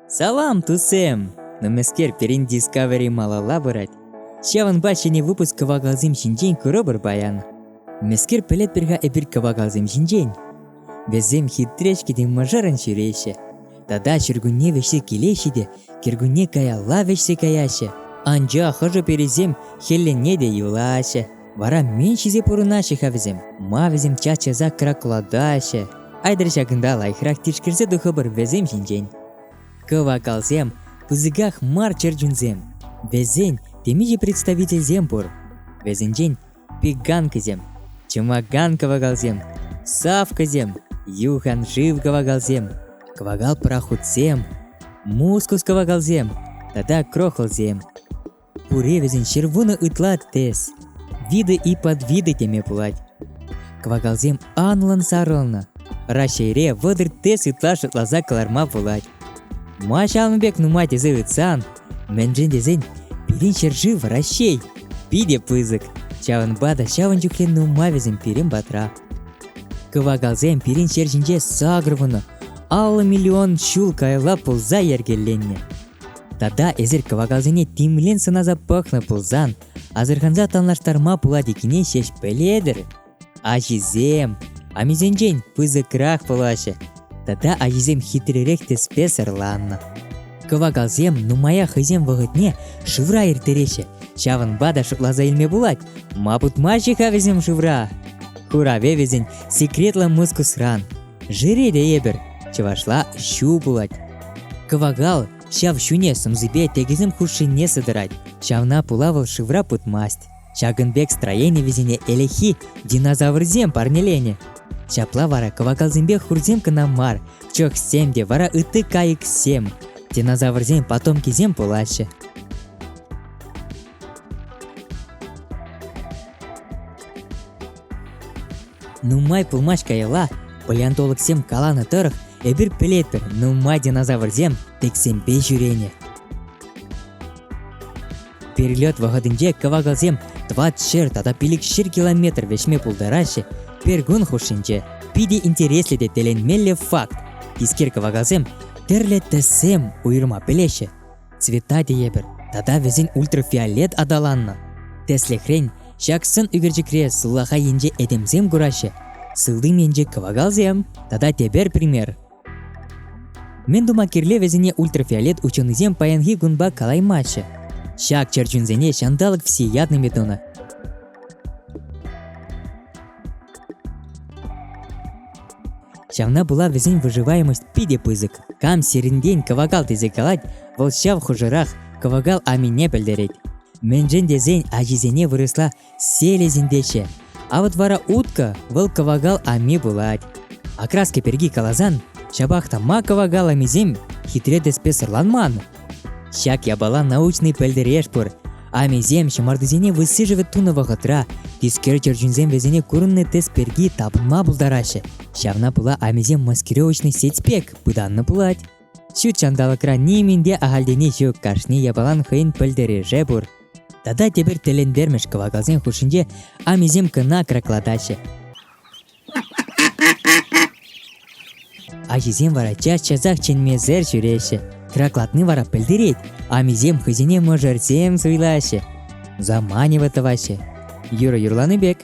Салам, тусем! Нумайскер пирӗнти Discovery малалла пырать. Ҫавӑнпа ҫӗнӗ выпуск кӑвакалсем ҫинчен курӑпӑр паян. Мӗскер пӗлетпӗр-ха эпир кӑвакалсем ҫинчен? Вӗсем хитречки те мӑшӑрӑн ҫӳреҫҫӗ. Тата ҫуркунне вӗҫсе килеҫҫӗ те кӗркунне каялла вӗҫсе каяҫҫӗ. Анчах хӑшӗ-пӗрисем хӗллене те юлаҫҫӗ. Вара мӗн ҫисе пурӑнаҫҫӗ-ха вӗсем? Ма вӗсем час-часах краклатаҫҫӗ? Айтӑр ҫакӑнта лайӑхрах тишкерсе тухӑпӑр вӗсем ҫинчен. Кӑвакалсем, пысӑках мар чӗрчунсем. Вӗсен темиҫе представительсем пур. Вӗсенчен пеганкӑсем, чӑмакан кӑвакалсем, савкӑсем, юхан шыв кӑвакалсем, кӑвакал-пӑрахутсем, мускус кӑвакалсем тата крохлсем. Пуре вӗсен ҫырвунӑ ытла тӗс. Виды и подвиды теме пулать. Кӑвакалсем анлӑн сарӑлнӑ. Раҫҫейре вӑтӑр тӗс ытла шӑтласа кӑларма пулать. Ма ҫавӑн пек нумай тесе ыйтсан, мӗншӗн тесен пирӗн ҫӗршыв Раҫҫей питӗ пысӑк. Ҫавӑнпа та ҫавӑн чухлӗ нумай вӗсем пирӗн патра. Кӑвакалсем пирӗн ҫер ҫинче сакӑр вунӑ, аллӑ миллион ҫул каялла пулса йӗркеленнӗ. Тата эсир кӑвакалсене тимлен сӑнаса пӑхнӑ пулсан, асӑрханса танлаштарма пулать иккене ҫеҫ пӗлетӗр. Аҫисем амисенчен пысӑкрах пулаҫҫӗ. Тата аҫисем хитререх тӗспе сӑрланнӑ. Кӑвакалсем нумая хӑйсем вӑхӑтне шывра ирттереҫҫӗ. Ҫавӑнпа та шутласа илме пулать, ма путмаҫҫӗ-ха вӗсем шывра? Хуравӗ вӗсен секретлӑ мускусран. Жиреде эпир, чӑвашла ҫу пулать. Кӑвакал ҫав ҫуне сӑмсипе текӗсем хушшине сытӑрать. Ҫавна пула вӑл шывра путмасть. Ҫакӑн пек строени вӗсене элехи динозаврсем парнеленӗ. Ҫапла вара кӑвакалсемпе хурсем кӑна мар, чӑхсем те вара ытти кайӑксем, динозаврсен потомкисем пулаҫҫӗ. Нумай пулмасть каялла палеонтологсем каланӑ тӑрӑх эпир пӗлетпӗр нумай динозаврсем тӗксемпе ҫӳренӗ. Перелет вӑхӑтӗнче кӑвакалсем тӑват ҫӗр тата пилӗк ҫӗр километр вӗҫме пултараҫҫӗ, пиркун хушшинче питӗ интереслӗ те тӗлӗнмелле факт. Тискер кӑвакалсем тӗрлӗ тӗссем уйӑрма пӗлеҫҫӗ. цвета тейӗпӗр тата вӗсен ультрафиолет аталаннӑ. Тӗслӗхрен, ҫак сӑн ӳкерчӗкре сулахай енче этемсем кураҫҫӗ, сылтим енче кӑвакалсем тата тепер пример. Мӗн тума кирлӗ вӗсене ультрафиолет ученӑйсем паянхи кунпа калаймаҫҫӗ. Ҫак чӗрчунсене ҫанталӑк всеядный метода Ҫавна пула вӗсен выживаемость питӗ пысӑк. Кам сирӗнтен кӑвакал тесе калать, вӑл ҫав хушӑрах кӑвакал амине пӗлтерет. Мӗншӗн тесен ачисене вырӑсла селезин теҫҫӗ. А вот вара утка вӑл кӑвакал ами пулать. Окраски пирки каласан, ҫапах та ма кӑвакал амисем хитре тӗспе сӑрланман? Ҫак япала научный пӗлтереш пур. Амисем ҫӑмартисене высшӗшӗ тунӑ вӑхӑтра тискер чӗрчунсем вӗсене курӑннӑ тӗс пирки тапӑнма пултараҫҫӗ. Ҫавна пула амисем маскировочный сеть пек пытаннӑ пулать. Ҫут ҫанталӑкра нимӗн те ахальтен ҫук, кашни япалан хӑйӗн пӗлтереше пур. Тата тепӗр тӗлӗнтермӗш кӑвакалсен хушшинче амисем кӑна краклатаҫҫӗ. Ачисем вара час-часах чӗнмесӗр ҫӳреҫҫӗ. Хӑраклатни вара пӗлтерет, амисем хӑйсене мӑшӑрсем суйлаҫҫӗ, заманево тӑваҫҫӗ. Юрӑ юрлани пек,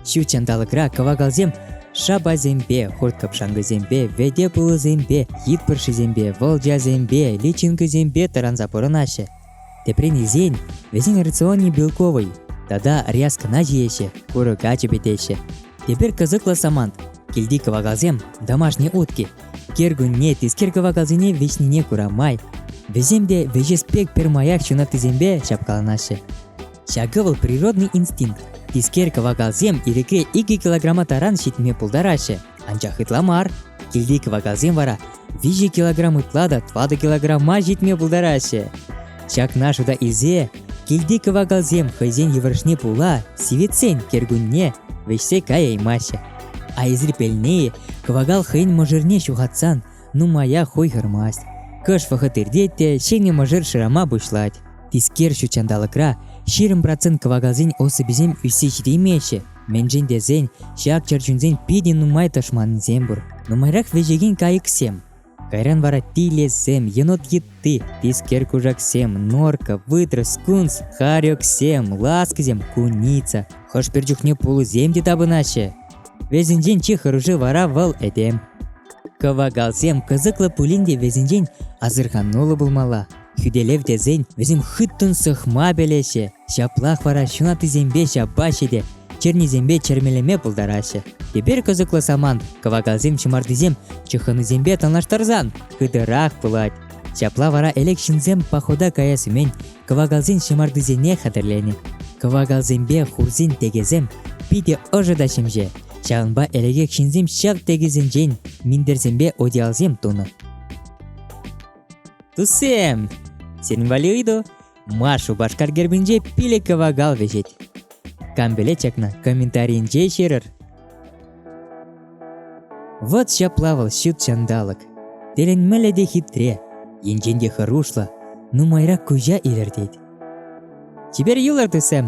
ҫут ҫанталӑкра кӑвакалсем шапасемпе, хурт-кӑпшанкӑсемпе, вӗте пулӑсемпе, хит пӑршисемпе, волчасемпе, личинкӑсемпе тӑранса пурӑнаҫҫӗ. Теприн илсен, вӗсен рационе белковӑй тата ряскӑна ҫиеҫҫӗ, курӑка чӗпӗтеҫҫӗ. Тепер кӑсӑклӑ самант – килти кӑвакалсем домашние утки. Кӗркунне тискер кӑвакалсене вӗҫнине кура май вӗсем те вӗҫес пек пӗрмаях ҫунаттисемпе ҫапкаланаҫҫӗ. Ҫакӑ вӑл природный инстинкт. Тискер кӑвакалсем ирӗкре 2 килограмма таран ҫитме пултараҫҫӗ, анчах ытла мар. Килти кӑвакалсем вара 5 килограмм ытла та 2 килограмма ҫитме пултараҫҫӗ. Ҫакна шута илсе килти кӑвакалсем хӑйсен йывӑрӑшне пула сивӗтсен кӗркунне вӗҫсе каяймаҫҫӗ. А изрепельные кӑвакал хӑйӗн мӑшӑрне ҫухатсан нумаях хуйхӑрмасть. Кӑш вӑхӑт иртет те ҫӗнӗ мӑшӑр шырама пуҫлать. Тискер ҫут ҫанталӑкра ҫирӗм процент кӑвакалсен особисем ӳссе ҫитеймеҫҫӗ. Мӗншӗн тесен ҫак чӗрчунсен питӗ нумай тӑшманӗсем пур. Нумайрах вӗҫекен кайӑксем. Кайран вара тилӗсем, енот йытти, тискер кушаксем, норка, вытрӑс, кунс, харёксем, ласкисем, куница. Хӑш-пӗр чухне пулӑсем те тапӑнаҫҫӗ. Вӗсенчен чи хӑруши вара вӑл этем. Кӑвакалсем кӑсӑклӑ пулин те вӗсенчен асӑрхануллӑ пулмалла. Хӳтӗлев тесен вӗсем хыттӑн сӑхма пӗлеҫҫӗ, ҫаплах вара ҫунаттисемпе ҫапаҫҫӗ те чернисемпе чӗрмелеме пултараҫҫӗ. Тепер кӑсӑклӑ самант кӑвакалсем ҫӑмартисем чыххӑнусемпе танлаштарсан хытӑрах пулать. Ҫапла вара элек ҫынсем похода каяс умӗн Кӑвакалсен ҫӑмартисене хатӗрленӗ. Кӑвакалсемпе хурсен тӗкӗсем питӗ ӑшӑ та ҫемҫе. Ҫавӑнпа ӗлӗкех ҫынсем ҫак тӗкӗсенчен минтерсемпе одеялсем тунӑ. Туссем, сирӗн валли ыйту. Маш Шупашкар гербӗнче пилӗк кӑвакал вӗҫет. Кам пӗлет чакна, комментаринче ҫырӑр. Вот ҫапла вӑл ҫут ҫанталӑк. Тӗлӗнмелле те хитре, енчен те хӑрушлӑ, нумайрак куҫа илӗртет. Чипер юлӑр тусем!